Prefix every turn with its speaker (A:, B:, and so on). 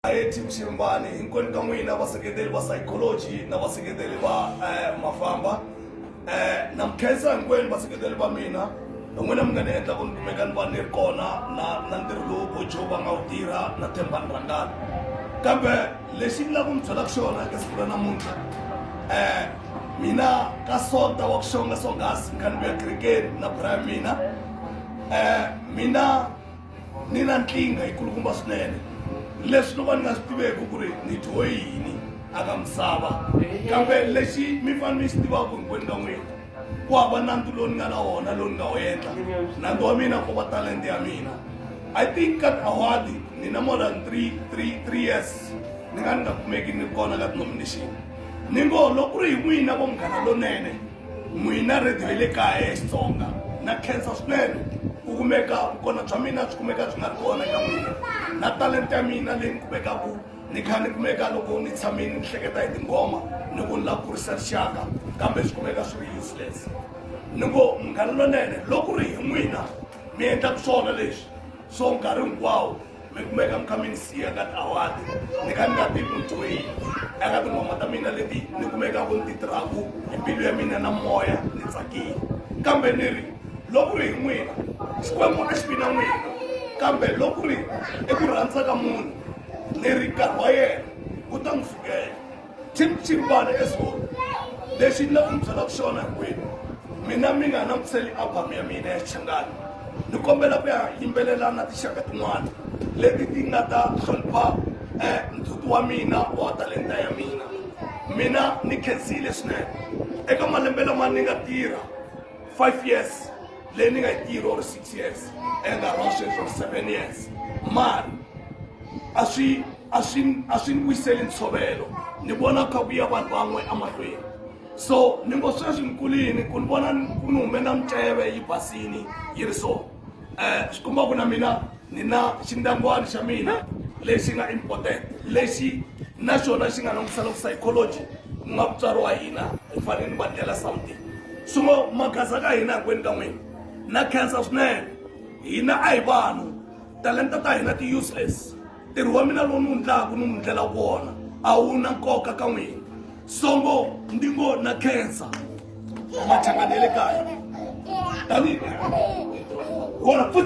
A: Anxiety, ku xirimbani hinkwenu ka n'wina vaseketeri va psychology na vaseketeri va eh, mafamba eh, na mukhensa hinkwenu vaseketeri va mina hi n'wina mi nga ni endla ku ni kumeka ni va ni ri kona na na ntirho lowu bojo va nga wu tirha na themba ni rhangana kambe lexi ni lava ku mi byelaka xona eka siku ra namuntlha eh mina ka sonta wa kuxonga songhasi ni kha ni vuya kerekeni na bra ya mina eh mina ni na nkingha yikulukumba swinene leswi no va ni nga swi tiveki ku ri ni dyiwe yini aka misava kambe lexi mi fane mi xi tivaka hinkwenu ka n'wina ku hava nandzu lowu ni nga na wona lowu ni nga wu endla nandzu wa mina ko va talente ya mina i think ka awadi ni na more than three three three years ni nga ni nga kumeki ni kona ka denomination ni ngo loko ku ri hi n'wina vo munghana lonene N'wina rhadiyo ya le kaya ya Xitsonga, na khensa swinene ku kumeka vukona bya mina byi kumeka byi nga ri kona eka n'wina, na talenta ya mina leyi ni kumekaku ni kha ni kumeka loko ni tshamile ni hleketa hi tinghoma ni ku ni lava ku kurisa rixaka kambe swi kumeka swi ri useless. Ni ngo Munghana Lonene loko ku ri hi n'wina mi endlaka swona leswi so nkarhi hinkwawo, mi kumeka mi kha mi ni siya ka tiawadi ni kha ni nga tivi mutwini eka tinghoma ta mina leti ni kumeka ku ni ti tirhaku hi mbilu ya mina na moya ni tsakile kambe ni ri loko ri hi n'wina xikwembu a xi vi na n'wina kambe loko ri eku rhandza ka munhu ni ri nkarhi wa yena wu ta n'wi fikela chimchimbana eswona lexi ni lava ku mi byelaka xona hinkwenu mina mi nga langutiseli album ya mina ya xichangani ni kombela ku ya yimbelela na tinxaka tin'wana leti ti nga ta hlonipha um ndzhuti wa mina wa talenta ya mina mina ni khensile swinene eka malembe lama ni nga tirha five years leyi ni nga yi tirha or six years enkarhi wa sweswi or seven years mari a swi a swi a swi ni vuyiseli ntshovelo ni vona kha ku ya vanhu van'we emahlweni so ni ngo sweswi ni kulini ku ni vona ku ni hume na miceve yi basini yi ri so um eh, swi komba ku na mina ni na xindangwana xa mina lexi nga important lexi na xona xi nga langutisa loko psychology ku nga mutswari wa hina hi fanele ni va ndlela something so maghaza ka hina hinkwenu ka n'wina na khensa swinene hina a hi vanhu talenta ta hina ti-useless ntirho wa mina lowu ni wu ndlaku ni n'wi ndlela wona a wu na nkoka ka n'wina songo ndi ngo na khensa machangani ya le kaya tanihi wona futhi